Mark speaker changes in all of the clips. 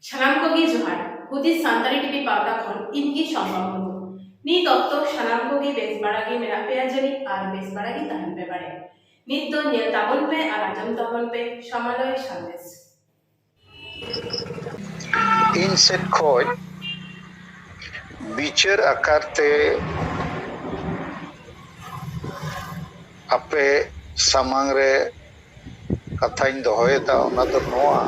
Speaker 1: ᱥᱟᱱᱟᱢ ᱠᱚᱜᱮ ᱡᱚᱦᱟᱨ ᱦᱩᱫᱤᱥ ᱥᱟᱱᱛᱟᱲᱤ ᱴᱤᱵᱷᱤ ᱯᱟᱣᱴᱟ ᱠᱷᱚᱱ ᱤᱧ ᱜᱮ ᱥᱚᱢᱵᱷᱟᱵ ᱢᱩᱨᱢᱩ ᱱᱤᱛ ᱚᱠᱛᱚ ᱥᱟᱱᱟᱢ ᱠᱚᱜᱮ ᱵᱮᱥ ᱵᱟᱲᱟ ᱜᱮ ᱢᱮᱱᱟᱜ ᱯᱮᱭᱟ ᱡᱟᱹᱱᱤᱡ ᱟᱨ ᱵᱮᱥ ᱵᱟᱲᱟ ᱜᱮ ᱛᱟᱦᱮᱱ ᱯᱮ ᱵᱟᱲᱮ ᱱᱤᱛ ᱫᱚ ᱧᱮᱞ ᱛᱟᱵᱚᱱ ᱯᱮ ᱟᱨ ᱟᱸᱡᱚᱢ ᱛᱟᱵᱚᱱ ᱯᱮ ᱥᱟᱢᱟᱞᱚᱭ ᱥᱟᱸᱫᱮᱥ
Speaker 2: ᱤᱧ ᱥᱮᱫ ᱠᱷᱚᱡ ᱵᱤᱪᱟᱹᱨ ᱟᱠᱟᱨ ᱛᱮ ᱟᱯᱮ ᱥᱟᱢᱟᱝ ᱨᱮ ᱠᱟᱛᱷᱟᱧ ᱫᱚᱦᱚᱭᱮᱫᱟ ᱚᱱᱟ ᱫᱚ ᱱᱚᱣᱟ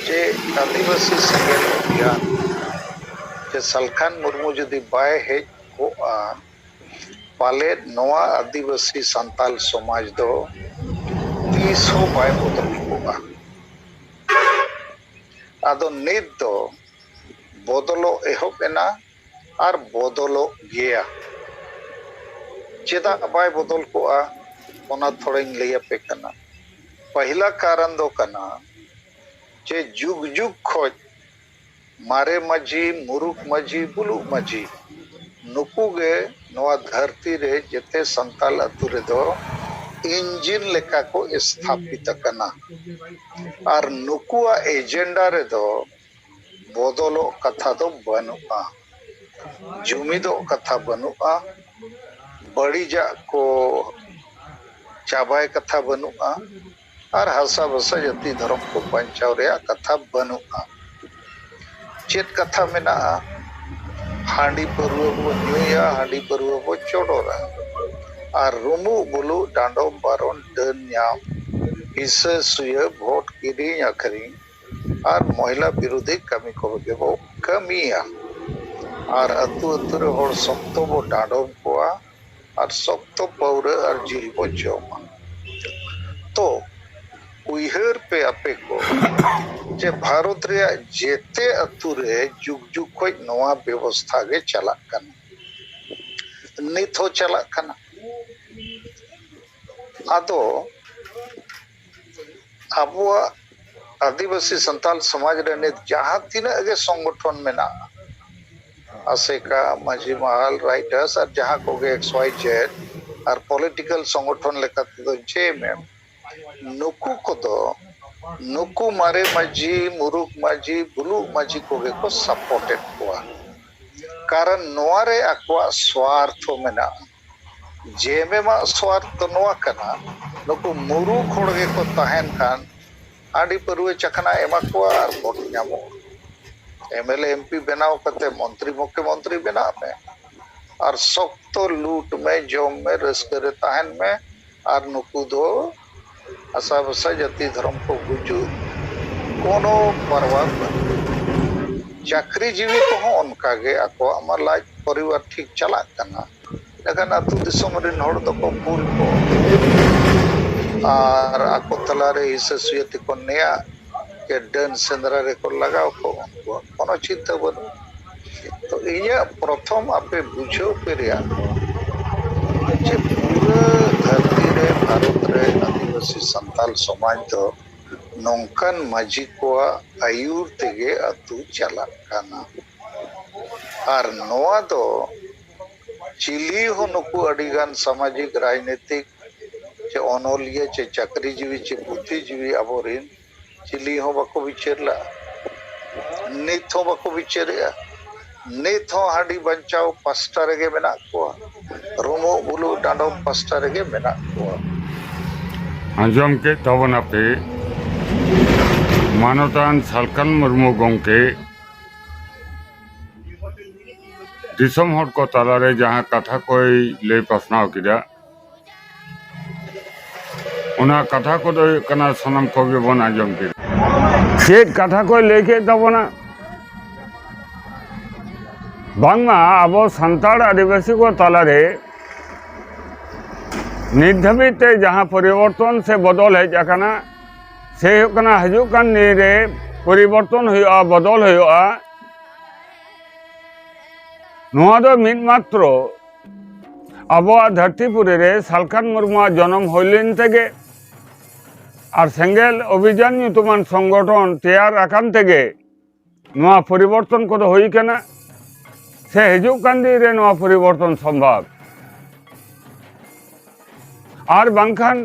Speaker 2: ᱡᱮ ᱟᱹᱫᱤᱵᱟᱹᱥᱤ ᱥᱮᱸᱜᱮᱞ ᱚᱵᱷᱤᱭᱟᱱ ᱥᱮ ᱥᱟᱞᱠᱷᱟᱱ ᱢᱩᱨᱢᱩ ᱡᱩᱫᱤ ᱵᱟᱭ ᱦᱮᱡ ᱠᱚᱜᱼᱟ ᱯᱟᱞᱮᱫ ᱱᱚᱣᱟ ᱟᱹᱫᱤᱵᱟᱹᱥᱤ ᱥᱟᱱᱛᱟᱞ ᱥᱚᱢᱟᱡᱽ ᱫᱚ ᱛᱤᱥ ᱦᱚᱸ ᱵᱟᱭ ᱵᱚᱫᱚᱞ ᱠᱚᱜᱼᱟ᱾ ᱟᱫᱚ ᱱᱤᱛ ᱫᱚ ᱵᱚᱫᱚᱞᱚᱜ ᱮᱦᱚᱵ ᱮᱱᱟ ᱟᱨ ᱵᱚᱫᱚᱞᱚᱜ ᱜᱮᱭᱟ᱾ ᱪᱮᱫᱟᱜ ᱵᱟᱭ ᱵᱚᱫᱚᱞ ᱠᱚᱜᱼᱟ ᱚᱱᱟ ᱛᱷᱚᱲᱟᱧ ᱞᱟᱹᱭ ᱟᱯᱮ ᱠᱟᱱᱟ᱾ ᱯᱟᱹᱦᱤᱞᱟ ᱠᱟᱨᱚᱱ ᱫᱚ ᱠᱟᱱᱟ ᱡᱮ ᱡᱩᱜᱽ ᱡᱩᱜᱽ ᱠᱷᱚᱡ ᱢᱟᱨᱮ ᱢᱟᱹᱡᱷᱤ, ᱢᱩᱨᱩᱠ ᱢᱟᱹᱡᱷᱤ, ᱵᱩᱞᱩᱜ ᱢᱟᱹᱡᱷᱤ ᱱᱩᱠᱩ ᱜᱮ ᱱᱚᱣᱟ ᱫᱷᱟᱹᱨᱛᱤ ᱨᱮ ᱡᱮᱛᱮ ᱥᱟᱱᱛᱟᱞ ᱟᱹᱛᱩ ᱨᱮᱫᱚ ᱤᱱᱡᱤᱱ ᱞᱮᱠᱟ ᱠᱚ ᱥᱛᱷᱟᱯᱤᱛ ᱟᱠᱟᱱᱟ ᱟᱨ ᱱᱩᱠᱩᱣᱟᱜ ᱮᱡᱮᱱᱰᱟ ᱨᱮᱫᱚ ᱵᱚᱫᱚᱞᱚᱜ ᱠᱟᱛᱷᱟ ᱫᱚ ᱵᱟᱹᱱᱩᱜᱼᱟ, ᱡᱩᱢᱤᱫᱚᱜ ᱠᱟᱛᱷᱟ ᱵᱟᱹᱱᱩᱜᱼᱟ, ᱵᱟᱹᱲᱤᱡᱟᱜ ᱠᱚ ᱪᱟᱵᱟᱭ ᱠᱟᱛᱷᱟ ᱵᱟᱹᱱᱩᱜᱼᱟ᱾ ᱟᱨ ᱦᱟᱥᱟ ᱵᱷᱟᱥᱟ ᱡᱟᱹᱛᱤ ᱫᱷᱚᱨᱚᱢ ᱠᱚ ᱵᱟᱧᱪᱟᱣ ᱨᱮᱭᱟᱜ ᱠᱟᱛᱷᱟ ᱵᱟᱹᱱᱩᱜᱼᱟ᱾ ᱪᱮᱫ ᱠᱟᱛᱷᱟ ᱢᱮᱱᱟᱜᱼᱟ? ᱦᱟᱺᱰᱤ ᱯᱟᱹᱨᱩᱣᱟᱹ ᱵᱚ ᱧᱩᱭᱟ, ᱦᱟᱺᱰᱤ ᱯᱟᱹᱨᱩᱣᱟᱹ ᱵᱚ ᱪᱚᱰᱚᱨᱟ ᱟᱨ ᱨᱩᱢᱩᱜ ᱵᱩᱞᱩᱜ, ᱰᱟᱸᱰᱚᱢ ᱵᱟᱨᱚᱱ, ᱰᱟᱹᱱ ᱧᱟᱢ, ᱦᱤᱥᱟᱹ ᱥᱩᱭᱟᱹ, ᱵᱷᱳᱴ ᱠᱤᱨᱤᱧ ᱟᱹᱠᱷᱨᱤᱧ ᱟᱨ ᱢᱚᱦᱤᱞᱟ ᱵᱤᱨᱩᱫᱷᱤ ᱠᱟᱹᱢᱤ ᱠᱚ ᱜᱮ ᱵᱚ ᱠᱟᱹᱢᱤᱭᱟ ᱟᱨ ᱟᱹᱛᱩ ᱟᱹᱛᱩ ᱨᱮ ᱦᱚᱲ ᱥᱚᱠᱛᱚ ᱵᱚ ᱰᱟᱸᱰᱚᱢ ᱠᱚᱣᱟ᱾ ᱟᱨ ᱥᱚᱠᱛᱚ ᱯᱟᱹᱣᱨᱟᱹ ᱟᱨ ᱡᱤᱞ ᱵᱚ ᱡᱚᱢᱟ᱾ ᱛᱚ ᱩᱭᱦᱟᱹᱨ ᱯᱮ ᱟᱯᱮ ᱠᱚ ᱡᱮ ᱵᱷᱟᱨᱚᱛ ᱨᱮᱭᱟᱜ ᱡᱮᱛᱮ ᱟᱹᱛᱩ ᱨᱮ ᱡᱩᱜᱽ ᱡᱩᱜᱽ ᱠᱷᱚᱡ ᱱᱚᱣᱟ ᱵᱮᱵᱚᱥᱛᱷᱟ ᱜᱮ ᱪᱟᱞᱟᱜ ᱠᱟᱱᱟ᱾ ᱱᱤᱛ ᱦᱚᱸ ᱪᱟᱞᱟᱜ ᱠᱟᱱᱟ᱾ ᱟᱫᱚ᱾ ᱟᱵᱚᱣᱟᱜ ᱟᱹᱫᱤᱵᱟᱹᱥᱤ ᱥᱟᱱᱛᱟᱞ ᱥᱚᱢᱟᱡᱽ ᱨᱮ ᱱᱤᱛ ᱡᱟᱦᱟᱸ ᱛᱤᱱᱟᱹᱜ ᱜᱮ ᱥᱚᱝᱜᱚᱴᱷᱚᱱ ᱢᱮᱱᱟᱜᱼᱟ ᱟᱥᱮᱠᱟ ᱢᱟᱹᱡᱷᱤ ᱢᱟᱦᱟᱞ ᱨᱟᱭᱴᱟᱨᱥ ᱟᱨ ᱡᱟᱦᱟᱸ ᱠᱚᱜᱮ ᱮᱠᱥ ᱚᱣᱟᱭ ᱡᱮᱰ ᱟᱨ ᱯᱚᱞᱤᱴᱤᱠᱟᱞ ᱥᱚᱝᱜᱚᱴᱷᱚᱱ ᱞᱮᱠᱟ ᱛᱮᱫᱚ ᱡᱮ ᱮᱢ ᱮᱢ ᱱᱩᱠᱩ ᱠᱚᱫᱚ ᱱᱩᱠᱩ ᱢᱟᱨᱮ ᱢᱟᱹᱡᱷᱤ ᱢᱩᱨᱩᱠ ᱢᱟᱹᱡᱷᱤ ᱵᱩᱞᱩᱜ ᱢᱟᱹᱡᱷᱤ ᱠᱚᱜᱮ ᱠᱚ ᱥᱟᱯᱚᱨᱴ ᱮᱫ ᱠᱚᱣᱟ ᱠᱟᱨᱚᱱ ᱱᱚᱣᱟ ᱨᱮ ᱟᱠᱚᱣᱟᱜ ᱥᱣᱟᱨᱛᱷᱚ ᱢᱮᱱᱟᱜᱼᱟ ᱡᱮᱮᱢᱮᱢ ᱟᱜ ᱥᱣᱟᱨᱛᱷ ᱫᱚ ᱱᱚᱣᱟ ᱠᱟᱱᱟ ᱱᱩᱠᱩ ᱢᱩᱨᱩᱠᱷ ᱦᱚᱲ ᱜᱮᱠᱚ ᱛᱟᱦᱮᱱ ᱠᱷᱟᱱ ᱦᱟᱺᱰᱤ ᱯᱟᱹᱨᱣᱟᱹ ᱪᱟᱠᱷᱱᱟ ᱮᱢᱟ ᱠᱚᱣᱟ ᱟᱨ ᱵᱷᱳᱴ ᱧᱟᱢᱚᱜᱼᱟ᱾ ᱮᱢᱮᱞᱮ ᱮᱢᱯᱤ ᱵᱮᱱᱟᱣ ᱠᱟᱛᱮ ᱢᱚᱱᱛᱨᱤ ᱢᱩᱠᱷᱭᱚ ᱢᱚᱱᱛᱨᱤ ᱵᱮᱱᱟᱜ ᱢᱮ ᱟᱨ ᱥᱚᱠᱛᱚ ᱞᱩᱴ ᱢᱮ ᱡᱚᱢ ᱢᱮ ᱨᱟᱹᱥᱠᱟᱹ ᱨᱮ ᱛᱟᱦᱮᱱ ᱢᱮ ᱟᱨ ᱱᱩᱠᱩ ᱫᱚ ᱟᱥᱟ ᱵᱷᱟᱥᱟ ᱡᱟᱹᱛᱤ ᱫᱷᱚᱨᱚᱢ ᱠᱚ ᱜᱩᱡᱩᱜ ᱠᱳᱱᱳ ᱯᱟᱨᱣᱟ ᱵᱟᱹᱱᱩᱜ ᱛᱟᱠᱚᱣᱟ᱾ ᱪᱟᱹᱠᱨᱤ ᱡᱤᱣᱤ ᱠᱚᱦᱚᱸ ᱚᱱᱠᱟ ᱜᱮ ᱟᱠᱚᱣᱟᱜ ᱢᱟ ᱞᱟᱡ ᱯᱚᱨᱤᱵᱟᱨ ᱴᱷᱤᱠ ᱪᱟᱞᱟᱜ ᱠᱟᱱᱟ᱾ ᱮᱸᱰᱮᱠᱷᱟᱱ ᱟᱹᱛᱩ ᱫᱤᱥᱚᱢ ᱨᱤᱱ ᱦᱚᱲ ᱫᱚᱠᱚ ᱠᱩᱞ ᱠᱚ ᱟᱨ ᱟᱠᱚ ᱛᱟᱞᱟ ᱨᱮ ᱦᱤᱥᱟᱹ ᱥᱩᱭᱟᱹ ᱛᱮᱠᱚ ᱱᱮᱭᱟᱜ ᱡᱮ ᱰᱟᱹᱱ ᱥᱮᱸᱫᱽᱨᱟ ᱨᱮᱠᱚ ᱞᱟᱜᱟᱣ ᱠᱚ ᱩᱱᱠᱩᱣᱟᱜ ᱠᱳᱱᱳ ᱪᱤᱱᱛᱟᱹ ᱵᱟᱹᱱᱩᱜᱼᱟ᱾ ᱛᱚ ᱤᱧᱟᱹᱜ ᱯᱨᱚᱛᱷᱚᱢ ᱟᱯᱮ ᱵᱩᱡᱷᱟᱹᱣ ᱯᱮ ᱨᱮᱭᱟᱜ ᱫᱚ ᱡᱮ ᱯᱩᱨᱟᱹ ᱫᱷᱟᱹᱨᱛᱤ ᱨᱮ ᱵᱷᱟᱨᱚᱛ ᱨᱮ ᱟᱹᱫᱤᱵᱟᱹᱥᱤ ᱥᱟᱱᱛᱟᱞ ᱥᱚᱢᱟᱡᱽ ᱫᱚ ᱱᱚᱝᱠᱟᱱ ᱢᱟᱹᱡᱷᱤ ᱠᱚᱣᱟᱜ ᱟᱹᱭᱩᱨ ᱛᱮᱜᱮ ᱟᱹᱛᱩ ᱪᱟᱞᱟᱜ ᱠᱟᱱᱟ ᱟᱨ ᱱᱚᱣᱟ ᱫᱚ ᱪᱤᱞᱤ ᱦᱚᱸ ᱱᱩᱠᱩ ᱟᱹᱰᱤ ᱜᱟᱱ ᱥᱟᱢᱟᱡᱤᱠ ᱨᱟᱡᱽᱱᱤᱛᱤᱠ ᱪᱮ ᱚᱱᱚᱞᱤᱭᱟᱹ ᱪᱮ ᱪᱟᱹᱠᱨᱤ ᱡᱤᱵᱤ ᱪᱮ ᱵᱩᱫᱽᱫᱷᱤ ᱡᱤᱵᱤ ᱟᱵᱚᱨᱤᱱ ᱪᱤᱞᱤ ᱦᱚᱸ ᱵᱟᱠᱚ ᱵᱤᱪᱟᱹᱨ ᱞᱟᱜᱼᱟ ᱱᱤᱛ ᱦᱚᱸ ᱵᱟᱠᱚ ᱵᱤᱪᱟᱹᱨᱮᱜᱼᱟ ᱱᱤᱛ ᱦᱚᱸ ᱦᱟᱺᱰᱤ ᱵᱟᱧᱪᱟᱣ ᱯᱟᱥᱴᱟ ᱨᱮᱜᱮ ᱢᱮᱱᱟᱜ ᱠᱚᱣᱟ ᱨᱩᱢᱩᱜ ᱵᱩᱞᱩᱜ ᱰᱟᱸᱰᱚᱢ ᱯᱟᱥᱴᱟ ᱨᱮᱜᱮ ᱢᱮᱱᱟᱜ ᱠᱚᱣᱟ
Speaker 3: ᱟᱸᱡᱚᱢ ᱠᱮᱫ ᱛᱟᱵᱚᱱᱟᱯᱮ ᱢᱟᱱᱚᱛᱟᱱ ᱥᱟᱞᱠᱷᱟᱱ ᱢᱩᱨᱢᱩ ᱜᱚᱢᱠᱮ ᱫᱤᱥᱚᱢ ᱦᱚᱲ ᱠᱚ ᱛᱟᱞᱟᱨᱮ ᱡᱟᱦᱟᱸ ᱠᱟᱛᱷᱟ ᱠᱚᱭ ᱞᱟᱹᱭ ᱯᱟᱥᱱᱟᱣ ᱠᱮᱫᱟ ᱚᱱᱟ ᱠᱟᱛᱷᱟ ᱠᱚᱫᱚ ᱦᱩᱭᱩᱜ ᱠᱟᱱᱟ ᱥᱟᱱᱟᱢ ᱠᱚᱜᱮ ᱵᱚᱱ ᱟᱸᱡᱚᱢ ᱠᱮᱫᱟ ᱪᱮᱫ ᱠᱟᱛᱷᱟ ᱠᱚᱭ ᱞᱟᱹᱭ ᱠᱮᱫ ᱛᱟᱵᱚᱱᱟ ᱵᱟᱝᱢᱟ ᱟᱵᱚ ᱥᱟᱱᱛᱟᱲ ᱟᱹᱫᱤᱵᱟᱹᱥᱤ ᱠᱚ ᱛᱟᱞᱟᱨᱮ ᱱᱤᱛ ᱫᱷᱟᱹᱵᱤᱡ ᱛᱮ ᱡᱟᱦᱟᱸ ᱯᱚᱨᱤᱵᱚᱨᱛᱚᱱ ᱥᱮ ᱵᱚᱫᱚᱞ ᱦᱮᱡ ᱟᱠᱟᱱᱟ ᱥᱮ ᱦᱩᱭᱩᱜ ᱠᱟᱱᱟ ᱦᱤᱡᱩᱜ ᱠᱟᱱ ᱫᱤᱱ ᱨᱮ ᱯᱚᱨᱤᱵᱚᱨᱛᱚᱱ ᱦᱩᱭᱩᱜᱼᱟ ᱵᱚᱫᱚᱞ ᱦᱩᱭᱩᱜᱼᱟ ᱱᱚᱣᱟ ᱫᱚ ᱢᱤᱫ ᱢᱟᱛᱨᱚ ᱟᱵᱚᱣᱟᱜ ᱫᱷᱟᱹᱨᱛᱤ ᱯᱩᱨᱤ ᱨᱮ ᱥᱟᱞᱠᱷᱟᱱ ᱢᱩᱨᱢᱩᱣᱟᱜ ᱡᱚᱱᱚᱢ ᱦᱩᱭ ᱞᱮᱱ ᱛᱮᱜᱮ ᱟᱨ ᱥᱮᱸᱜᱮᱞ ᱚᱵᱷᱤᱡᱟᱱ ᱧᱩᱛᱩᱢᱟᱱ ᱥᱚᱝᱜᱚᱴᱷᱚᱱ ᱛᱮᱭᱟᱨ ᱟᱠᱟᱱ ᱛᱮᱜᱮ ᱱᱚᱣᱟ ᱯᱚᱨᱤᱵᱚᱨᱛᱚᱱ ᱠᱚᱫᱚ ᱦᱩᱭ ᱠᱟᱱᱟ ᱥᱮ ᱦᱤᱡᱩᱜ ᱠᱟᱱ ᱫᱤᱱ ᱨᱮ ᱱᱚᱣᱟ ᱯᱚᱨᱤᱵᱚᱨᱛᱚᱱ ᱥᱚᱢᱵᱷᱟᱵ ᱟᱨ ᱵᱟᱝᱠᱷᱟᱱ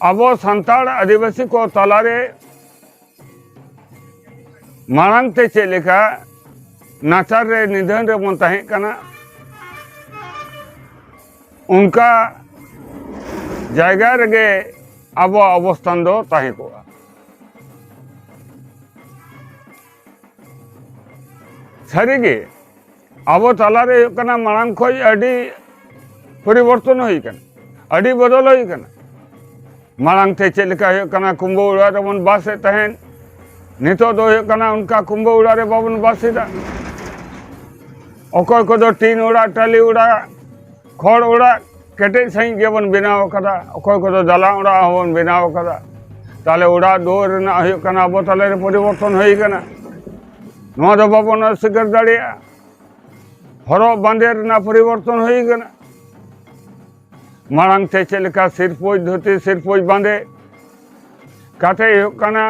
Speaker 3: ᱟᱵᱚ ᱥᱟᱱᱛᱟᱲ ᱟᱹᱫᱤᱵᱟᱹᱥᱤ ᱠᱚ ᱛᱟᱞᱟᱨᱮ ᱢᱟᱲᱟᱝ ᱛᱮ ᱪᱮᱫ ᱞᱮᱠᱟ ᱱᱟᱪᱟᱨ ᱨᱮ ᱱᱤᱫᱷᱟᱹᱱ ᱨᱮᱵᱚᱱ ᱛᱟᱦᱮᱸ ᱠᱟᱱᱟ ᱚᱱᱠᱟ ᱡᱟᱭᱜᱟ ᱨᱮᱜᱮ ᱟᱵᱚᱣᱟᱜ ᱚᱵᱚᱥᱛᱷᱟᱱ ᱫᱚ ᱛᱟᱦᱮᱸ ᱠᱚᱜᱼᱟ ᱥᱟᱹᱨᱤᱜᱮ ᱟᱵᱚ ᱛᱟᱞᱟᱨᱮ ᱦᱩᱭᱩᱜ ᱠᱟᱱᱟ ᱢᱟᱲᱟᱝ ᱠᱷᱚᱱ ᱟᱹᱰᱤ ᱯᱚᱨᱤᱵᱚᱨᱛᱚᱱ ᱦᱩᱭ ᱠᱟᱱᱟ ᱟᱹᱰᱤ ᱵᱚᱫᱚᱞ ᱦᱩᱭ ᱠᱟᱱᱟ ᱢᱟᱲᱟᱝ ᱛᱮ ᱪᱮᱫ ᱞᱮᱠᱟ ᱦᱩᱭᱩᱜ ᱠᱟᱱᱟ ᱠᱩᱢᱵᱟᱹ ᱚᱲᱟᱜ ᱨᱮᱵᱚᱱ ᱵᱟᱥᱮᱫ ᱛᱟᱦᱮᱸᱫ ᱱᱤᱛᱚᱜ ᱫᱚ ᱦᱩᱭᱩᱜ ᱠᱟᱱᱟ ᱚᱱᱠᱟ ᱠᱩᱢᱵᱟᱹ ᱚᱲᱟᱜ ᱨᱮ ᱵᱟᱵᱚᱱ ᱵᱟᱥᱮᱫᱟ ᱚᱠᱚᱭ ᱠᱚᱫᱚ ᱴᱤᱱ ᱚᱲᱟᱜ ᱴᱟᱹᱞᱤ ᱚᱲᱟᱜ ᱠᱷᱚᱲ ᱚᱲᱟᱜ ᱠᱮᱴᱮᱡ ᱥᱟᱺᱦᱤᱡ ᱜᱮᱵᱚᱱ ᱵᱮᱱᱟᱣ ᱟᱠᱟᱫᱟ ᱚᱠᱚᱭ ᱠᱚᱫᱚ ᱫᱟᱞᱟᱱ ᱚᱲᱟᱜ ᱦᱚᱸᱵᱚᱱ ᱵᱮᱱᱟᱣ ᱟᱠᱟᱫᱟ ᱛᱟᱦᱚᱞᱮ ᱚᱲᱟᱜ ᱫᱩᱣᱟᱹᱨ ᱨᱮᱱᱟᱜ ᱦᱩᱭᱩᱜ ᱠᱟᱱᱟ ᱟᱵᱚ ᱛᱟᱞᱟᱨᱮ ᱯᱚᱨᱤᱵᱚᱨᱛᱚᱱ ᱦᱩᱭ ᱟᱠᱟᱱᱟ ᱱᱚᱣᱟ ᱫᱚ ᱵᱟᱵᱚᱱ ᱚᱥᱤᱠᱟᱨ ᱫᱟᱲᱮᱭᱟᱜᱼᱟ ᱦᱚᱨᱚᱜ ᱵᱟᱸᱫᱮ ᱨᱮᱱᱟᱜ ᱯᱚᱨᱤᱵᱚᱨᱛᱚᱱ ᱦᱩᱭ ᱟᱠᱟᱱᱟ ᱢᱟᱲᱟᱝ ᱛᱮ ᱪᱮᱫ ᱞᱮᱠᱟ ᱥᱤᱨᱯᱳᱡ ᱫᱷᱩᱛᱤ ᱥᱤᱨᱯᱳᱡ ᱵᱟᱸᱫᱮ ᱠᱟᱛᱮ ᱦᱩᱭᱩᱜ ᱠᱟᱱᱟ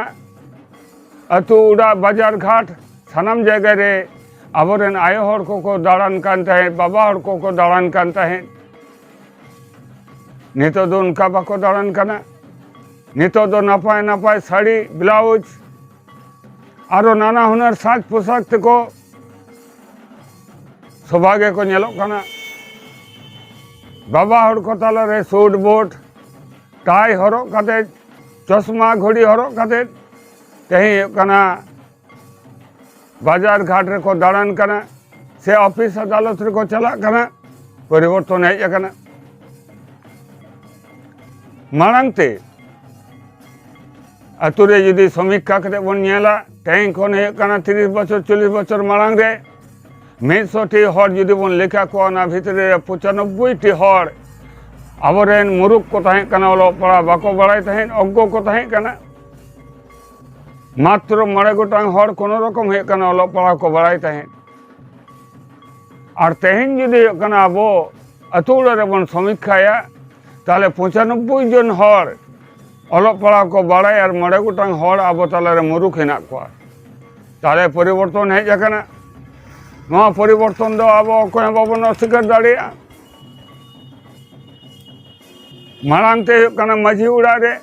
Speaker 3: ᱟᱹᱛᱩ ᱚᱲᱟᱜ ᱵᱟᱡᱟᱨ ᱜᱷᱟᱴ ᱥᱟᱱᱟᱢ ᱡᱟᱭᱜᱟ ᱨᱮ ᱟᱵᱚᱨᱮᱱ ᱟᱭᱳ ᱦᱚᱲ ᱠᱚᱠᱚ ᱫᱟᱬᱟᱱ ᱠᱟᱱ ᱛᱟᱦᱮᱸᱫ ᱵᱟᱵᱟ ᱦᱚᱲ ᱠᱚᱠᱚ ᱫᱟᱬᱟᱱ ᱠᱟᱱ ᱛᱟᱦᱮᱸᱫ ᱱᱤᱛᱚᱜ ᱫᱚ ᱚᱱᱠᱟ ᱵᱟᱠᱚ ᱫᱟᱬᱟᱱ ᱠᱟᱱᱟ ᱱᱤᱛᱚᱜ ᱫᱚ ᱱᱟᱯᱟᱭ ᱱᱟᱯᱟᱭ ᱥᱟᱹᱲᱤ ᱵᱞᱟᱣᱩᱡᱽ ᱟᱨᱚ ᱱᱟᱱᱟ ᱦᱩᱱᱟᱹᱨ ᱥᱟᱡᱽ ᱯᱳᱥᱟᱠ ᱛᱮᱠᱚ ᱥᱚᱵᱷᱟ ᱜᱮᱠᱚ ᱧᱮᱞᱚᱜ ᱠᱟᱱᱟ ᱵᱟᱵᱟ ᱦᱚᱲ ᱠᱚ ᱛᱟᱞᱟᱨᱮ ᱥᱩᱴ ᱵᱩᱴ ᱴᱟᱭ ᱦᱚᱨᱚᱜ ᱠᱟᱛᱮᱫ ᱪᱚᱥᱢᱟ ᱜᱷᱚᱲᱤ ᱦᱚᱨᱚᱜ ᱠᱟᱛᱮᱫ ᱛᱮᱦᱮᱧ ᱦᱩᱭᱩᱜ ᱠᱟᱱᱟ ᱵᱟᱡᱟᱨ ᱜᱷᱟᱴ ᱨᱮᱠᱚ ᱫᱟᱬᱟᱱ ᱠᱟᱱᱟ ᱥᱮ ᱚᱯᱷᱤᱥ ᱟᱫᱟᱞᱚᱛ ᱨᱮᱠᱚ ᱪᱟᱞᱟᱜ ᱠᱟᱱᱟ ᱯᱚᱨᱤᱵᱚᱨᱛᱚᱱ ᱦᱮᱡ ᱟᱠᱟᱱᱟ ᱢᱟᱲᱟᱝ ᱛᱮ ᱟᱛᱳ ᱨᱮ ᱡᱩᱫᱤ ᱥᱚᱢᱤᱠᱠᱷᱟ ᱠᱟᱛᱮ ᱵᱚᱱ ᱧᱮᱞᱟ ᱛᱮᱦᱮᱧ ᱠᱷᱚᱱ ᱦᱩᱭᱩᱜ ᱠᱟᱱᱟ ᱛᱤᱨᱤᱥ ᱵᱚᱪᱷᱚᱨ ᱪᱚᱞᱞᱤᱥ ᱵᱚᱪᱷᱚᱨ ᱢᱟᱲᱟᱝ ᱨᱮ ᱢᱤᱫᱥᱚ ᱴᱤ ᱦᱚᱲ ᱡᱩᱫᱤ ᱵᱚᱱ ᱞᱮᱠᱷᱟ ᱠᱚᱣᱟ ᱚᱱᱟ ᱵᱷᱤᱛᱨᱤ ᱨᱮ ᱯᱚᱸᱪᱟᱱᱚᱵᱵᱳᱭ ᱴᱤ ᱦᱚᱲ ᱟᱵᱚᱨᱮᱱ ᱢᱩᱨᱩᱠ ᱠᱚ ᱛᱟᱦᱮᱸ ᱠᱟᱱᱟ ᱚᱞᱚᱜ ᱯᱟᱲᱦᱟᱜ ᱵᱟᱠᱚ ᱵᱟᱲᱟᱭ ᱛᱟᱦᱮᱸᱫ ᱚᱜᱽᱜᱚ ᱠᱚ ᱛᱟᱦᱮᱸ ᱠᱟᱱᱟ ᱢᱟᱛᱨᱚ ᱢᱚᱬᱮ ᱜᱚᱴᱟᱝ ᱦᱚᱲ ᱠᱳᱱᱳ ᱨᱚᱠᱚᱢ ᱦᱩᱭᱩᱜ ᱠᱟᱱᱟ ᱚᱞᱚᱜ ᱯᱟᱲᱦᱟᱣ ᱠᱚ ᱵᱟᱲᱟᱭ ᱛᱟᱦᱮᱸᱫ ᱟᱨ ᱛᱮᱦᱮᱧ ᱡᱩᱫᱤ ᱦᱩᱭᱩᱜ ᱠᱟᱱᱟ ᱟᱵᱚ ᱟᱹᱛᱩ ᱚᱲᱟᱜ ᱨᱮᱵᱚᱱ ᱥᱚᱢᱤᱠᱠᱷᱟᱭᱟ ᱛᱟᱦᱚᱞᱮ ᱯᱚᱸᱪᱟᱱᱚᱵᱵᱳᱭ ᱡᱚᱱ ᱦᱚᱲ ᱚᱞᱚᱜ ᱯᱟᱲᱦᱟᱣ ᱠᱚ ᱵᱟᱲᱟᱭ ᱟᱨ ᱢᱚᱬᱮ ᱜᱚᱴᱟᱝ ᱦᱚᱲ ᱟᱵᱚ ᱛᱟᱞᱟᱨᱮ ᱢᱩᱨᱩᱠᱷ ᱦᱮᱱᱟᱜ ᱠᱚᱣᱟ ᱛᱟᱦᱚᱞᱮ ᱯᱚᱨᱤᱵᱚᱨᱛᱚᱱ ᱦᱮᱡ ᱟᱠᱟᱱᱟ ᱱᱚᱣᱟ ᱯᱚᱨᱤᱵᱚᱨᱛᱚᱱ ᱫᱚ ᱟᱵᱚ ᱚᱠᱚᱭ ᱦᱚᱸ ᱵᱟᱵᱚᱱ ᱚᱥᱥᱤᱠᱟᱨ ᱫᱟᱲᱮᱭᱟᱜᱼᱟ ᱢᱟᱲᱟᱝ ᱛᱮ ᱦᱩᱭᱩᱜ ᱠᱟᱱᱟ ᱢᱟᱹᱡᱷᱤ ᱚᱲᱟᱜ ᱨᱮ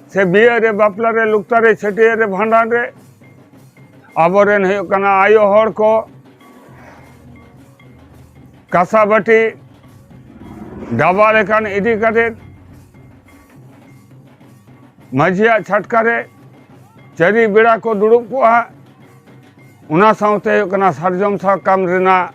Speaker 3: ᱥᱮ ᱵᱤᱭᱟᱹ ᱨᱮ ᱵᱟᱯᱞᱟ ᱨᱮ ᱞᱩᱠᱛᱟ ᱨᱮ ᱪᱷᱟᱹᱴᱭᱟᱹᱨ ᱨᱮ ᱵᱷᱟᱸᱰᱟᱱ ᱨᱮ ᱟᱵᱚᱨᱮᱱ ᱦᱩᱭᱩᱜ ᱠᱟᱱᱟ ᱟᱭᱳ ᱦᱚᱲ ᱠᱚ ᱠᱟᱥᱟ ᱵᱟᱹᱴᱤ ᱰᱟᱵᱟ ᱞᱮᱠᱟᱱ ᱤᱫᱤ ᱠᱟᱛᱮᱫ ᱢᱟᱹᱡᱷᱤᱭᱟᱜ ᱪᱷᱟᱴᱠᱟ ᱨᱮ ᱪᱟᱹᱨᱤ ᱵᱮᱲᱟ ᱠᱚ ᱫᱩᱲᱩᱵ ᱠᱚᱜᱼᱟ ᱚᱱᱟ ᱥᱟᱶᱛᱮ ᱦᱩᱭᱩᱜ ᱠᱟᱱᱟ ᱥᱟᱨᱡᱚᱢ ᱥᱟᱠᱟᱢ ᱨᱮᱱᱟᱜ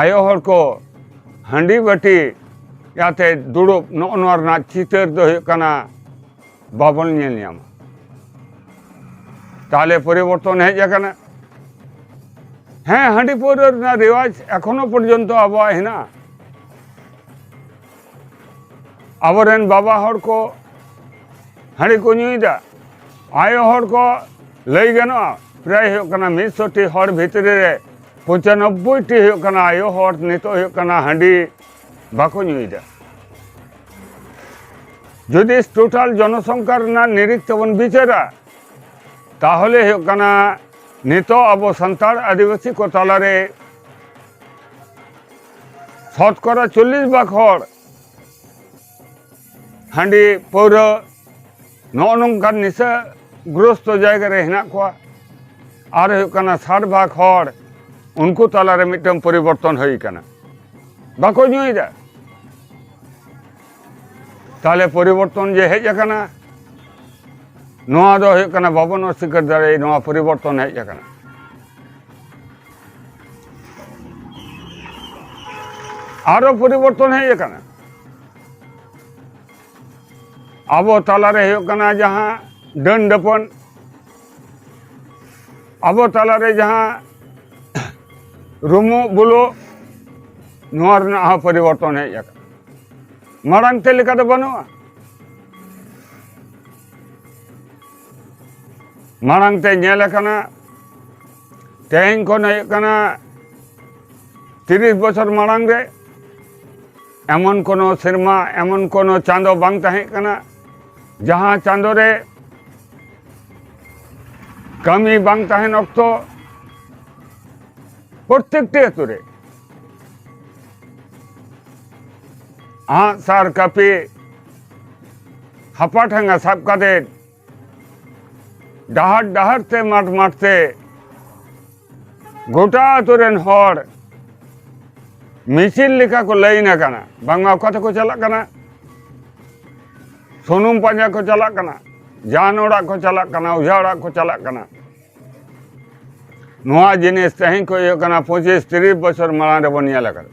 Speaker 3: ᱟᱭᱳ ᱦᱚᱲ ᱠᱚ ᱦᱟᱺᱰᱤ ᱵᱟᱹᱴᱤ ᱡᱟᱛᱮ ᱫᱩᱲᱩᱵ ᱱᱚᱜᱼᱚ ᱱᱚᱣᱟ ᱨᱮᱱᱟᱜ ᱪᱤᱛᱟᱹᱨ ᱫᱚ ᱦᱩᱭᱩᱜ ᱠᱟᱱᱟ ᱵᱟᱵᱚᱱ ᱧᱮᱞ ᱧᱟᱢᱟ ᱛᱟᱦᱞᱮ ᱯᱚᱨᱤᱵᱚᱨᱛᱚᱱ ᱦᱮᱡ ᱟᱠᱟᱱᱟ ᱦᱮᱸ ᱦᱟᱺᱰᱤ ᱯᱟᱹᱣᱨᱟᱹ ᱨᱮᱱᱟᱜ ᱨᱮᱣᱟᱡᱽ ᱮᱠᱷᱚᱱᱳ ᱯᱚᱨᱡᱚᱱᱛᱚ ᱟᱵᱚᱣᱟᱜ ᱦᱮᱱᱟᱜᱼᱟ ᱟᱵᱚᱨᱮᱱ ᱵᱟᱵᱟ ᱦᱚᱲ ᱠᱚ ᱦᱟᱺᱰᱤ ᱠᱚ ᱧᱩᱭᱮᱫᱟ ᱟᱭᱳ ᱦᱚᱲ ᱠᱚ ᱞᱟᱹᱭ ᱜᱟᱱᱚᱜᱼᱟ ᱯᱨᱟᱭ ᱦᱩᱭᱩᱜ ᱠᱟᱱᱟ ᱢᱤᱫᱥᱚᱴᱤ ᱦᱚᱲ ᱵᱷᱤᱛᱨᱤ ᱨᱮ ᱯᱚᱸᱪᱟᱱᱚᱵᱵᱳᱭ ᱴᱤ ᱦᱩᱭᱩᱜ ᱠᱟᱱᱟ ᱟᱭᱳ ᱦᱚᱲ ᱱᱤᱛᱚᱜ ᱦᱩᱭᱩᱜ ᱠᱟᱱᱟ ᱦᱟᱺᱰᱤ ᱵᱟᱠᱚ ᱧᱩᱭᱮᱫᱟ ᱡᱩᱫᱤ ᱴᱳᱴᱟᱞ ᱡᱚᱱᱚᱥᱚᱝᱠᱷᱟ ᱨᱮᱱᱟᱜ ᱱᱤᱨᱤᱠ ᱛᱮᱵᱚᱱ ᱵᱤᱪᱟᱹᱨᱟ ᱛᱟᱦᱚᱞᱮ ᱦᱩᱭᱩᱜ ᱠᱟᱱᱟ ᱱᱤᱛᱚᱜ ᱟᱵᱚ ᱥᱟᱱᱛᱟᱲ ᱟᱹᱫᱤᱵᱟᱹᱥᱤ ᱠᱚ ᱛᱟᱞᱟᱨᱮ ᱥᱚᱛᱠᱚᱨᱟ ᱪᱚᱞᱞᱤᱥ ᱵᱷᱟᱜᱽ ᱦᱚᱲ ᱦᱟᱺᱰᱤ ᱯᱟᱹᱣᱨᱟᱹ ᱱᱚᱜᱼᱚ ᱱᱚᱝᱠᱟᱱ ᱱᱤᱥᱟᱹ ᱜᱨᱚᱥᱛᱚ ᱡᱟᱭᱜᱟ ᱨᱮ ᱦᱮᱱᱟᱜ ᱠᱚᱣᱟ ᱟᱨ ᱦᱩᱭᱩᱜ ᱠᱟᱱᱟ ᱥᱟᱴ ᱵᱷᱟᱜᱽ ᱦᱚᱲ ᱩᱱᱠᱩ ᱛᱟᱞᱟᱨᱮ ᱢᱤᱫᱴᱟᱝ ᱯᱚᱨᱤᱵᱚᱨᱛᱚᱱ ᱦᱩᱭ ᱠᱟᱱᱟ ᱵᱟᱠᱚ ᱧᱩᱭᱮᱫᱟ ᱛᱟᱦᱞᱮ ᱯᱚᱨᱤᱵᱚᱨᱛᱚᱱ ᱡᱮ ᱦᱮᱡ ᱟᱠᱟᱱᱟ ᱱᱚᱣᱟ ᱫᱚ ᱦᱩᱭᱩᱜ ᱠᱟᱱᱟ ᱵᱟᱵᱚᱱ ᱚᱥᱤᱠᱟᱨ ᱫᱟᱲᱮᱭᱟᱜ ᱱᱚᱣᱟ ᱯᱚᱨᱤᱵᱚᱨᱛᱚᱱ ᱦᱮᱡ ᱟᱠᱟᱱᱟ ᱟᱨᱚ ᱯᱚᱨᱤᱵᱚᱨᱛᱚᱱ ᱦᱮᱡ ᱟᱠᱟᱱᱟ ᱟᱵᱚ ᱛᱟᱞᱟᱨᱮ ᱦᱩᱭᱩᱜ ᱠᱟᱱᱟ ᱡᱟᱦᱟᱸ ᱰᱟᱹᱱ ᱰᱟᱹᱯᱚᱱ ᱟᱵᱚ ᱛᱟᱞᱟᱨᱮ ᱡᱟᱦᱟᱸ ᱨᱩᱢᱩ ᱵᱩᱞᱩ ᱱᱚᱣᱟ ᱨᱮᱱᱟᱜ ᱦᱚᱸ ᱯᱚᱨᱤᱵᱚᱨᱛᱚᱱ ᱦᱮᱡ ᱟᱠᱟᱱᱟ ᱢᱟᱲᱟᱝ ᱛᱮ ᱞᱮᱠᱟ ᱫᱚ ᱵᱟᱹᱱᱩᱜᱼᱟ ᱢᱟᱲᱟᱝ ᱛᱮ ᱧᱮᱞ ᱟᱠᱟᱱᱟ ᱛᱮᱦᱮᱧ ᱠᱷᱚᱱ ᱦᱩᱭᱩᱜ ᱠᱟᱱᱟ ᱛᱤᱨᱤᱥ ᱵᱚᱪᱷᱚᱨ ᱢᱟᱲᱟᱝ ᱨᱮ ᱮᱢᱚᱱ ᱠᱳᱱᱳ ᱥᱮᱨᱢᱟ ᱮᱢᱚᱱ ᱠᱳᱱᱳ ᱪᱟᱸᱫᱚ ᱵᱟᱝ ᱛᱟᱦᱮᱸ ᱠᱟᱱᱟ ᱡᱟᱦᱟᱸ ᱪᱟᱸᱫᱚ ᱨᱮ ᱠᱟᱹᱢᱤ ᱵᱟᱝ ᱛᱟᱦᱮᱱ ᱚᱠᱛᱚ ᱯᱨᱚᱛᱮᱠᱴᱤ ᱟᱹᱛᱩ ᱨᱮ ᱟᱸᱜ ᱥᱟᱨ ᱠᱟᱹᱯᱤ ᱦᱟᱯᱟᱴᱷᱟᱝᱜᱟ ᱥᱟᱵ ᱠᱟᱛᱮ ᱰᱟᱦᱟᱨ ᱰᱟᱦᱟᱨ ᱛᱮ ᱢᱟᱴ ᱢᱟᱴ ᱛᱮ ᱜᱚᱴᱟ ᱟᱛᱳ ᱨᱮᱱ ᱦᱚᱲ ᱢᱤᱪᱤᱞ ᱞᱮᱠᱟ ᱠᱚ ᱞᱟᱹᱭᱤᱱ ᱟᱠᱟᱱᱟ ᱵᱟᱝᱢᱟ ᱚᱠᱟ ᱛᱮᱠᱚ ᱪᱟᱞᱟᱜ ᱠᱟᱱᱟ ᱥᱩᱱᱩᱢ ᱯᱟᱸᱡᱟ ᱠᱚ ᱪᱟᱞᱟᱜ ᱠᱟᱱᱟ ᱡᱟᱱ ᱚᱲᱟᱜ ᱠᱚ ᱪᱟᱞᱟᱜ ᱠᱟᱱᱟ ᱚᱡᱷᱟ ᱚᱲᱟᱜ ᱠᱚ ᱪᱟᱞᱟᱜ ᱠᱟᱱᱟ ᱱᱚᱣᱟ ᱡᱤᱱᱤᱥ ᱛᱮᱦᱮᱧ ᱠᱷᱚᱱ ᱦᱩᱭᱩᱜ ᱠᱟᱱᱟ ᱯᱚᱸᱪᱤᱥ ᱛᱤᱨᱤᱥ ᱵᱚᱪᱷᱚᱨ ᱢᱟᱲᱟᱝ ᱨᱮᱵᱚᱱ ᱧᱮᱞ ᱟᱠᱟᱫᱟ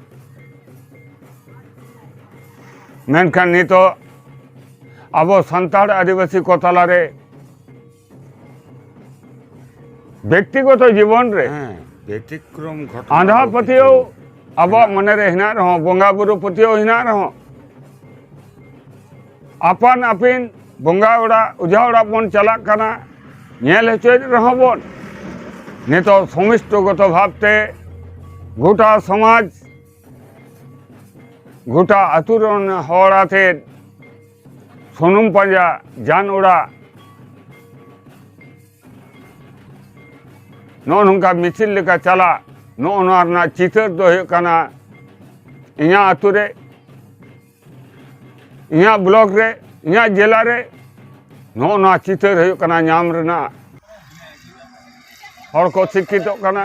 Speaker 3: ᱢᱮᱱᱠᱷᱟᱱ ᱱᱤᱛᱚᱜ ᱟᱵᱚ ᱥᱟᱱᱛᱟᱲ ᱟᱹᱫᱤᱵᱟᱹᱥᱤ ᱠᱚ ᱛᱟᱞᱟᱨᱮ ᱵᱮᱠᱛᱤᱜᱚᱛᱚ ᱡᱤᱵᱚᱱ ᱨᱮ ᱵᱮᱛᱤᱠᱨᱚᱢ
Speaker 4: ᱜᱷᱚᱴᱚᱱᱟ ᱟᱸᱫᱷᱟ
Speaker 3: ᱯᱟᱹᱛᱭᱟᱹᱣ ᱟᱵᱚᱣᱟᱜ ᱢᱚᱱᱮᱨᱮ ᱦᱮᱱᱟᱜ ᱨᱮᱦᱚᱸ ᱵᱚᱸᱜᱟ ᱵᱩᱨᱩ ᱯᱟᱹᱛᱭᱟᱹᱣ ᱦᱮᱱᱟᱜ ᱨᱮᱦᱚᱸ ᱟᱯᱟᱱ ᱟᱹᱯᱤᱱ ᱵᱚᱸᱜᱟ ᱚᱲᱟᱜ ᱚᱡᱷᱟ ᱚᱲᱟᱜ ᱵᱚᱱ ᱪᱟᱞᱟᱜ ᱠᱟᱱᱟ ᱧᱮᱞ ᱦᱚᱪᱚᱭᱮᱫ ᱨᱮᱦᱚᱸ ᱵᱚᱱ ᱱᱤᱛᱚᱜ ᱥᱚᱢᱤᱥᱴᱚᱜᱚᱛᱚ ᱵᱷᱟᱵᱛᱮ ᱜᱚᱴᱟ ᱥᱚᱢᱟᱡᱽ ᱜᱚᱴᱟ ᱟᱹᱛᱩ ᱨᱮᱱ ᱦᱚᱲ ᱟᱛᱮᱫ ᱥᱩᱱᱩᱢ ᱯᱟᱸᱡᱟ ᱡᱟᱱ ᱚᱲᱟᱜ ᱱᱚᱜᱼᱚ ᱱᱚᱝᱠᱟ ᱢᱤᱪᱷᱤᱞ ᱞᱮᱠᱟ ᱪᱟᱞᱟᱜ ᱱᱚᱜᱼᱚ ᱱᱚᱣᱟ ᱨᱮᱱᱟᱜ ᱪᱤᱛᱟᱹᱨ ᱫᱚ ᱦᱩᱭᱩᱜ ᱠᱟᱱᱟ ᱤᱧᱟᱹᱜ ᱟᱹᱛᱩ ᱨᱮ ᱤᱧᱟᱹᱜ ᱵᱞᱚᱠ ᱨᱮ ᱤᱧᱟᱹᱜ ᱡᱮᱞᱟ ᱨᱮ ᱱᱚᱜᱼᱚ ᱱᱚᱣᱟ ᱪᱤᱛᱟᱹᱨ ᱦᱩᱭᱩᱜ ᱠᱟᱱᱟ ᱧᱟᱢ ᱨᱮᱱᱟᱜ ᱦᱚᱲ ᱠᱚ ᱥᱤᱠᱠᱷᱤᱛᱚᱜ ᱠᱟᱱᱟ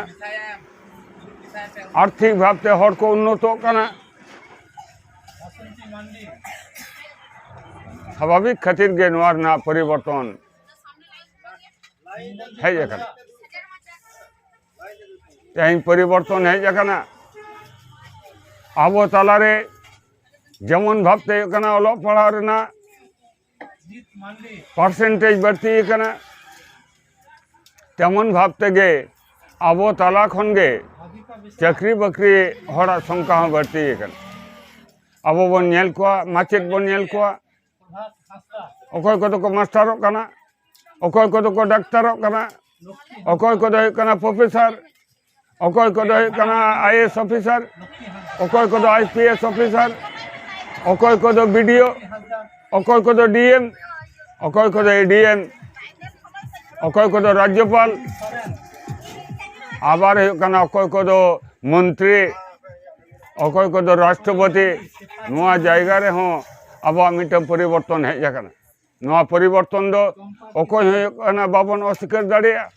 Speaker 3: ᱟᱨᱛᱷᱤᱠ ᱵᱷᱟᱵᱛᱮ ᱦᱚᱲ ᱠᱚ ᱩᱱᱱᱚᱛᱚᱜ ᱠᱟᱱᱟ ᱥᱟᱵᱷᱟᱵᱤᱠ ᱠᱷᱟᱹᱛᱤᱨ ᱜᱮ ᱱᱚᱣᱟ ᱨᱮᱱᱟᱜ ᱯᱚᱨᱤᱵᱚᱨᱛᱚᱱ ᱦᱮᱡ ᱟᱠᱟᱱᱟ ᱛᱮᱦᱮᱧ ᱯᱚᱨᱤᱵᱚᱨᱛᱚᱱ ᱦᱮᱡ ᱟᱠᱟᱱᱟ ᱟᱵᱚ ᱛᱟᱞᱟᱨᱮ ᱡᱮᱢᱚᱱ ᱵᱷᱟᱵᱛᱮ ᱦᱩᱭᱩᱜ ᱠᱟᱱᱟ ᱚᱞᱚᱜ ᱯᱟᱲᱦᱟᱣ ᱨᱮᱱᱟᱜ ᱯᱟᱨᱥᱮᱱᱴᱮᱡᱽ ᱵᱟᱹᱲᱛᱤ ᱟᱠᱟᱱᱟ ᱛᱮᱢᱚᱱ ᱵᱷᱟᱵ ᱛᱮᱜᱮ ᱟᱵᱚ ᱛᱟᱞᱟ ᱠᱷᱚᱱ ᱜᱮ ᱪᱟᱹᱠᱨᱤ ᱵᱟᱹᱠᱨᱤ ᱦᱚᱲᱟᱜ ᱥᱚᱝᱠᱷᱟ ᱦᱚᱸ ᱵᱟᱹᱲᱛᱤ ᱟᱠᱟᱱᱟ ᱟᱵᱚ ᱵᱚᱱ ᱧᱮᱞ ᱠᱚᱣᱟ ᱢᱟᱪᱮᱫ ᱵᱚᱱ ᱧᱮᱞ ᱠᱚᱣᱟ ᱚᱠᱚᱭ ᱠᱚᱫᱚ ᱠᱚ ᱢᱟᱥᱴᱟᱨᱚᱜ ᱠᱟᱱᱟ ᱚᱠᱚᱭ ᱠᱚᱫᱚ ᱠᱚ ᱰᱟᱠᱛᱟᱨᱚᱜ ᱠᱟᱱᱟ ᱚᱠᱚᱭ ᱠᱚᱫᱚ ᱦᱩᱭᱩᱜ ᱠᱟᱱᱟ ᱯᱨᱚᱯᱷᱮᱥᱟᱨ ᱚᱠᱚᱭ ᱠᱚᱫᱚ ᱦᱩᱭᱩᱜ ᱠᱟᱱᱟ ᱟᱭ ᱮᱥ ᱚᱯᱷᱤᱥᱟᱨ ᱚᱠᱚᱭ ᱠᱚᱫᱚ ᱟᱭ ᱯᱤ ᱮᱥ ᱚᱯᱷᱤᱥᱟᱨ ᱚᱠᱚᱭ ᱠᱚᱫᱚ ᱵᱤᱰᱤᱳ ᱚᱠᱚᱭ ᱠᱚᱫᱚ ᱰᱤ ᱮᱢ ᱚᱠᱚᱭ ᱠᱚᱫᱚ ᱮ ᱰᱤ ᱮᱢ ᱚᱠᱚᱭ ᱠᱚᱫᱚ ᱨᱟᱡᱽᱡᱚᱯᱟᱞ ᱟᱵᱟᱨ ᱦᱩᱭᱩᱜ ᱠᱟᱱᱟ ᱚᱠᱚᱭ ᱠᱚᱫᱚ ᱢᱚᱱᱛᱨᱤ ᱚᱠᱚᱭ ᱠᱚᱫᱚ ᱨᱟᱥᱴᱨᱚᱯᱚᱛᱤ ᱱᱚᱣᱟ ᱡᱟᱭᱜᱟ ᱨᱮᱦᱚᱸ ᱟᱵᱚᱣᱟᱜ ᱢᱤᱫᱴᱟᱝ ᱯᱚᱨᱤᱵᱚᱨᱛᱚᱱ ᱦᱮᱡ ᱟᱠᱟᱱᱟ ᱱᱚᱣᱟ ᱯᱚᱨᱤᱵᱚᱨᱛᱚᱱ ᱫᱚ ᱚᱠᱚᱭ ᱦᱚᱸ ᱦᱩᱭᱩᱜ ᱠᱟᱱᱟ ᱵᱟᱵᱚᱱ ᱚᱥᱤᱠᱟᱹᱨ ᱫᱟᱲᱮᱭᱟᱜᱼᱟ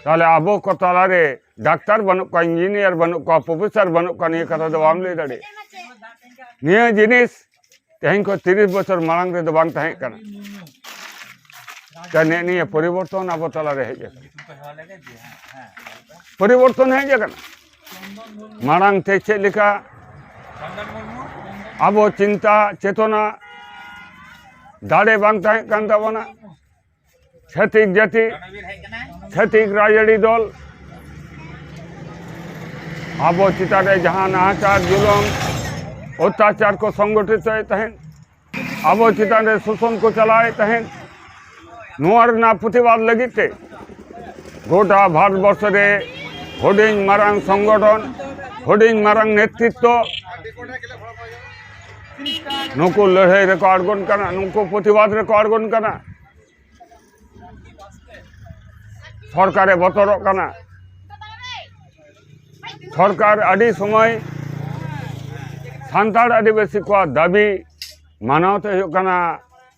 Speaker 3: ᱛᱟᱦᱚᱞᱮ ᱟᱵᱚ ᱠᱚ ᱛᱟᱞᱟᱨᱮ ᱰᱟᱠᱛᱟᱨ ᱵᱟᱹᱱᱩᱜ ᱠᱚᱣᱟ ᱤᱧᱡᱤᱱᱤᱭᱟᱨ ᱵᱟᱹᱱᱩᱜ ᱠᱚᱣᱟ ᱯᱨᱚᱯᱷᱮᱥᱟᱨ ᱵᱟᱹᱱᱩᱜ ᱠᱚᱣᱟ ᱱᱤᱭᱟᱹ ᱠᱟᱛᱷᱟ ᱫᱚ ᱵᱟᱢ ᱞᱟᱹᱭ ᱫᱟᱲᱮᱭᱟᱜᱼᱟ ᱱᱤᱭᱟᱹ ᱡᱤᱱᱤᱥ ᱛᱮᱦᱮᱧ ᱠᱷᱚᱱ ᱛᱤᱨᱤᱥ ᱵᱚᱪᱷᱚᱨ ᱢᱟᱲᱟᱝ ᱨᱮᱫᱚ ᱵᱟᱝ ᱛᱟᱦᱮᱸ ᱠᱟᱱᱟ ᱱᱮᱜ ᱱᱤᱭᱟᱹ ᱯᱚᱨᱤᱵᱚᱨᱛᱚᱱ ᱟᱵᱚ ᱛᱟᱞᱟᱨᱮ ᱦᱮᱡ ᱟᱠᱟᱱᱟ ᱯᱚᱨᱤᱵᱚᱨᱛᱚᱱ ᱦᱮᱡ ᱟᱠᱟᱱᱟ ᱢᱟᱲᱟᱝ ᱛᱮ ᱪᱮᱫ ᱞᱮᱠᱟ ᱟᱵᱚ ᱪᱤᱱᱛᱟ ᱪᱮᱛᱚᱱᱟ ᱫᱟᱲᱮ ᱵᱟᱝ ᱛᱟᱦᱮᱸ ᱠᱟᱱ ᱛᱟᱵᱚᱱᱟ ᱪᱷᱟᱹᱛᱤᱠ ᱡᱟᱹᱛᱤ ᱪᱷᱟᱹᱛᱤᱠ ᱨᱟᱡᱽᱟᱹᱨᱤ ᱫᱚᱞ ᱟᱵᱚ ᱪᱮᱛᱟᱱ ᱨᱮ ᱡᱟᱦᱟᱸ ᱱᱟᱦᱟᱪᱟᱨ ᱡᱩᱞᱩᱢ ᱚᱛᱛᱟᱪᱟᱨ ᱠᱚ ᱥᱚᱝᱜᱚᱴᱷᱤᱛᱚᱭᱮᱫ ᱛᱟᱦᱮᱸᱫ ᱟᱵᱚ ᱪᱮᱛᱟᱱ ᱨᱮ ᱥᱳᱥᱚᱱ ᱠᱚ ᱪᱟᱞᱟᱣᱮᱫ ᱛᱟᱦᱮᱸᱫ ᱱᱚᱣᱟ ᱨᱮᱱᱟᱜ ᱯᱨᱚᱛᱤᱵᱟᱫ ᱞᱟᱹᱜᱤᱫ ᱛᱮ ᱜᱚᱴᱟ ᱵᱷᱟᱨᱚᱛᱵᱚᱨᱥᱚ ᱨᱮ ᱦᱩᱰᱤᱧ ᱢᱟᱨᱟᱝ ᱥᱚᱝᱜᱚᱴᱷᱚᱱ ᱦᱩᱰᱤᱧ ᱢᱟᱨᱟᱝ ᱱᱮᱛᱨᱤᱛᱛᱚ ᱱᱩᱠᱩ ᱞᱟᱹᱲᱦᱟᱹᱭ ᱨᱮᱠᱚ ᱟᱬᱜᱚᱱ ᱠᱟᱱᱟ ᱱᱩᱠᱩ ᱯᱨᱚᱛᱤᱵᱟᱫ ᱨᱮᱠᱚ ᱟᱬᱜᱚᱱ ᱠᱟᱱᱟ ᱥᱚᱨᱠᱟᱨᱮ ᱵᱚᱛᱚᱨᱚᱜ ᱠᱟᱱᱟ ᱥᱚᱨᱠᱟᱨ ᱟᱹᱰᱤ ᱥᱚᱢᱚᱭ ᱥᱟᱱᱛᱟᱲ ᱟᱹᱫᱤᱵᱟᱹᱥᱤ ᱠᱚᱣᱟᱜ ᱫᱟᱹᱵᱤ ᱢᱟᱱᱟᱣ ᱛᱮ ᱦᱩᱭᱩᱜ ᱠᱟᱱᱟ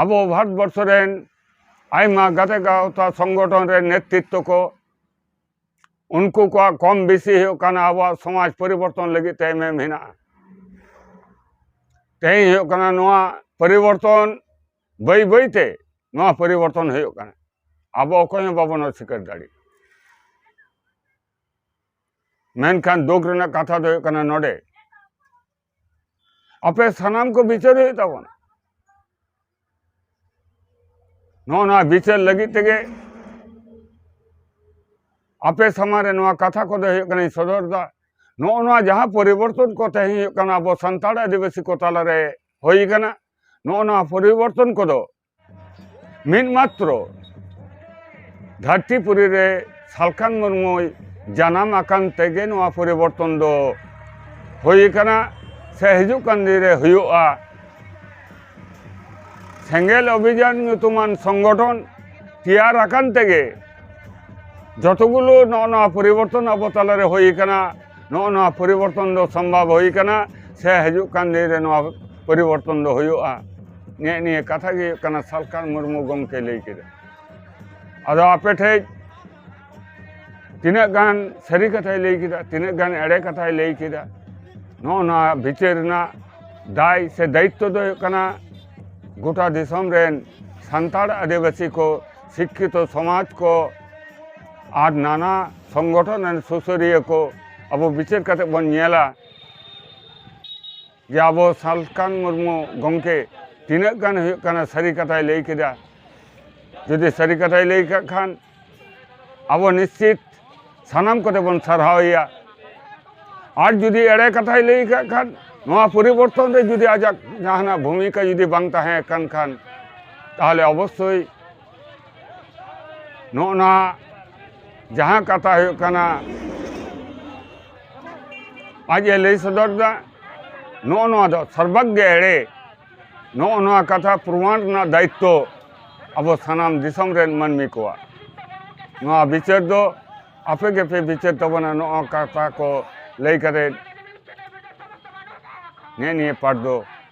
Speaker 3: ᱟᱵᱚ ᱵᱷᱟᱨᱚᱛ ᱵᱚᱨᱥᱚ ᱨᱮᱱ ᱟᱭᱢᱟ ᱜᱟᱛᱮ ᱜᱟᱶᱛᱟ ᱥᱚᱝᱜᱚᱴᱷᱚᱱ ᱨᱮᱱ ᱱᱮᱛᱨᱤᱛᱛᱚ ᱠᱚ ᱩᱱᱠᱩ ᱠᱚᱣᱟᱜ ᱠᱚᱢ ᱵᱮᱥᱤ ᱦᱩᱭᱩᱜ ᱠᱟᱱᱟ ᱟᱵᱚᱣᱟᱜ ᱥᱚᱢᱟᱡᱽ ᱯᱚᱨᱤᱵᱚᱨᱛᱚᱱ ᱞᱟᱹᱜᱤᱫ ᱛᱮ ᱮᱢᱮᱢ ᱦᱮᱱᱟᱜᱼᱟ ᱛᱮᱦᱮᱧ ᱦᱩᱭᱩᱜ ᱠᱟᱱᱟ ᱱᱚᱣᱟ ᱯᱚᱨᱤᱵᱚᱨᱛᱚᱱ ᱵᱟᱹᱭ ᱵᱟᱹᱭᱛᱮ ᱱᱚᱣᱟ ᱯᱚᱨᱤᱵᱚᱨᱛᱚᱱ ᱦᱩᱭᱩᱜ ᱠᱟᱱᱟ ᱟᱵᱚ ᱚᱠᱚᱭ ᱦᱚᱸ ᱵᱟᱵᱚᱱ ᱚᱥᱤᱠᱟᱹᱨ ᱫᱟᱲᱮᱭᱟᱜᱼᱟ ᱢᱮᱱᱠᱷᱟᱱ ᱫᱩᱠ ᱨᱮᱱᱟᱜ ᱠᱟᱛᱷᱟ ᱫᱚ ᱦᱩᱭᱩᱜ ᱠᱟᱱᱟ ᱱᱚᱰᱮ ᱟᱯᱮ ᱥᱟᱱᱟᱢ ᱠᱚ ᱵᱤᱪᱟᱹᱨ ᱦᱩᱭᱩᱜ ᱛᱟᱵᱚᱱᱟ ᱱᱚᱜᱼᱚ ᱱᱚᱣᱟ ᱵᱤᱪᱟᱹᱨ ᱞᱟᱹᱜᱤᱫ ᱛᱮᱜᱮ ᱟᱯᱮ ᱥᱟᱢᱟᱝ ᱨᱮ ᱱᱚᱣᱟ ᱠᱟᱛᱷᱟ ᱠᱚᱫᱚ ᱦᱩᱭᱩᱜ ᱠᱟᱱᱟᱧ ᱥᱚᱫᱚᱨ ᱮᱫᱟ ᱱᱚᱜᱼᱚ ᱱᱚᱣᱟ ᱡᱟᱦᱟᱸ ᱯᱚᱨᱤᱵᱚᱨᱛᱚᱱ ᱠᱚ ᱛᱮᱦᱮᱧ ᱦᱩᱭᱩᱜ ᱠᱟᱱᱟ ᱟᱵᱚ ᱥᱟᱱᱛᱟᱲ ᱟᱹᱫᱤᱵᱟᱹᱥᱤ ᱠᱚ ᱛᱟᱞᱟᱨᱮ ᱦᱩᱭ ᱠᱟᱱᱟ ᱱᱚᱜᱼᱚ ᱱᱚᱣᱟ ᱯᱚᱨᱤᱵᱚᱨᱛᱚᱱ ᱠᱚᱫᱚ ᱢᱤᱫ ᱢᱟᱛᱨᱚ ᱫᱷᱟᱹᱨᱛᱤ ᱯᱩᱨᱤ ᱨᱮ ᱥᱟᱞᱠᱷᱟᱱ ᱢᱩᱨᱢᱩᱭ ᱡᱟᱱᱟᱢ ᱟᱠᱟᱱ ᱛᱮᱜᱮ ᱱᱚᱣᱟ ᱯᱚᱨᱤᱵᱚᱨᱛᱚᱱ ᱫᱚ ᱦᱩᱭ ᱟᱠᱟᱱᱟ ᱥᱮ ᱦᱤᱡᱩᱜ ᱠᱟᱱ ᱫᱤᱱ ᱨᱮ ᱦᱩᱭᱩᱜᱼᱟ ᱥᱮᱸᱜᱮᱞ ᱚᱵᱷᱤᱡᱟᱱ ᱧᱩᱛᱩᱢᱟᱱ ᱥᱚᱝᱜᱚᱴᱷᱚᱱ ᱛᱮᱭᱟᱨ ᱟᱠᱟᱱ ᱛᱮᱜᱮ ᱡᱚᱛᱚᱜᱩᱞᱳ ᱱᱚᱜᱼᱚ ᱱᱚᱣᱟ ᱯᱚᱨᱤᱵᱚᱨᱛᱚᱱ ᱟᱵᱚ ᱛᱟᱞᱟᱨᱮ ᱦᱩᱭ ᱟᱠᱟᱱᱟ ᱱᱚᱜᱼᱚ ᱱᱚᱣᱟ ᱯᱚᱨᱤᱵᱚᱨᱛᱚᱱ ᱫᱚ ᱥᱚᱢᱵᱷᱚᱵ ᱦᱩᱭ ᱟᱠᱟᱱᱟ ᱥᱮ ᱦᱤᱡᱩᱜ ᱠᱟᱱ ᱫᱤᱱ ᱨᱮ ᱱᱚᱣᱟ ᱯᱚᱨᱤᱵᱚᱨᱛᱚᱱ ᱫᱚ ᱦᱩᱭᱩᱜᱼᱟ ᱱᱮᱜ ᱱᱤᱭᱟᱹ ᱠᱟᱛᱷᱟ ᱜᱮ ᱦᱩᱭᱩᱜ ᱠᱟᱱᱟ ᱥᱟᱞᱠᱷᱟᱱ ᱢᱩᱨᱢᱩ ᱜᱚᱢᱠᱮ ᱞᱟᱹᱭ ᱠᱮᱫᱟ ᱟᱫᱚ ᱟᱯᱮ ᱴᱷᱮᱡ ᱛᱤᱱᱟᱹᱜ ᱜᱟᱱ ᱥᱟᱹᱨᱤ ᱠᱟᱛᱷᱟᱭ ᱞᱟᱹᱭ ᱠᱮᱫᱟ ᱛᱤᱱᱟᱹᱜ ᱜᱟᱱ ᱮᱲᱮ ᱠᱟᱛᱷᱟᱭ ᱞᱟᱹᱭ ᱠᱮᱫᱟ ᱱᱚᱜᱼᱚ ᱱᱚᱣᱟ ᱵᱤᱪᱟᱹᱨ ᱨᱮᱱᱟᱜ ᱫᱟᱭ ᱥᱮ ᱫᱟᱭᱤᱛᱛᱚ ᱫᱚ ᱦᱩᱭᱩᱜ ᱠᱟᱱᱟ ᱜᱚᱴᱟ ᱫᱤᱥᱚᱢ ᱨᱮᱱ ᱥᱟᱱᱛᱟᱲ ᱟᱹᱫᱤᱵᱟᱹᱥᱤ ᱠᱚ ᱥᱤᱠᱠᱷᱤᱛᱚ ᱥᱚᱢᱟᱡᱽ ᱠᱚ ᱟᱨ ᱱᱟᱱᱟ ᱥᱚᱝᱜᱚᱴᱷᱚᱱ ᱨᱮᱱ ᱥᱩᱥᱟᱹᱨᱤᱭᱟᱹ ᱠᱚ ᱟᱵᱚ ᱵᱤᱪᱟᱹᱨ ᱠᱟᱛᱮ ᱵᱚᱱ ᱧᱮᱞᱟ ᱡᱮ ᱟᱵᱚ ᱥᱟᱞᱠᱷᱟᱱ ᱢᱩᱨᱢᱩ ᱜᱚᱢᱠᱮ ᱛᱤᱱᱟᱹᱜ ᱜᱟᱱ ᱦᱩᱭᱩᱜ ᱠᱟᱱᱟ ᱥᱟᱹᱨᱤ ᱠᱟᱛᱷᱟᱭ ᱞᱟᱹᱭ ᱠᱮᱫᱟ ᱡᱩᱫᱤ ᱥᱟᱹᱨᱤ ᱠᱟᱛᱷᱟᱭ ᱞᱟᱹᱭ ᱠᱟᱜ ᱠᱷᱟᱱ ᱟᱵᱚ ᱱᱤᱥᱪᱤᱛ ᱥᱟᱱᱟᱢ ᱠᱚᱛᱮ ᱵᱚᱱ ᱥᱟᱨᱦᱟᱣᱮᱭᱟ ᱟᱨ ᱡᱩᱫᱤ ᱮᱲᱮ ᱠᱟᱛᱷᱟᱭ ᱞᱟᱹᱭ ᱠᱟᱜ ᱠᱷᱟᱱ ᱱᱚᱣᱟ ᱯᱚᱨᱤᱵᱚᱨᱛᱚᱱ ᱨᱮ ᱡᱩᱫᱤ ᱟᱡᱟᱜ ᱡᱟᱦᱟᱱᱟᱜ ᱵᱷᱩᱢᱤᱠᱟ ᱡᱩᱫᱤ ᱵᱟᱝ ᱛᱟᱦᱮᱸ ᱠᱟᱱ ᱠᱷᱟᱱ ᱛᱟᱦᱚᱞᱮ ᱚᱵᱚᱥᱥᱳᱭ ᱱᱚᱜᱼᱚ ᱱᱟ ᱡᱟᱦᱟᱸ ᱠᱟᱛᱷᱟ ᱦᱩᱭᱩᱜ ᱠᱟᱱᱟ ᱟᱡ ᱮ ᱞᱟᱹᱭ ᱥᱚᱫᱚᱨ ᱮᱫᱟ ᱱᱚᱜᱼᱚ ᱱᱚᱣᱟ ᱫᱚ ᱥᱚᱨᱵᱟᱜᱽ ᱜᱮ ᱮᱲᱮ ᱱᱚᱜᱼᱚ ᱱᱚᱣᱟ ᱠᱟᱛᱷᱟ ᱯᱨᱚᱢᱟᱱ ᱨᱮᱱᱟᱜ ᱫᱟᱭᱤᱛᱛᱚ ᱟᱵᱚ ᱥᱟᱱᱟᱢ ᱫᱤᱥᱚᱢ ᱨᱮᱱ ᱢᱟᱹᱱᱢᱤ ᱠᱚᱣᱟᱜ ᱱᱚᱣᱟ ᱵᱤᱪᱟᱹᱨ ᱫᱚ ᱟᱯᱮ ᱜᱮᱯᱮ ᱵᱤᱪᱟᱹᱨ ᱛᱟᱵᱚᱱᱟ ᱱᱚᱜᱼᱚ ᱠᱟᱛᱷᱟ ᱠᱚ ᱞᱟᱹᱭ ᱠᱟᱛᱮ ᱱᱮᱜ ᱱᱤᱭᱟᱹ ᱯᱟᱴ ᱫᱚ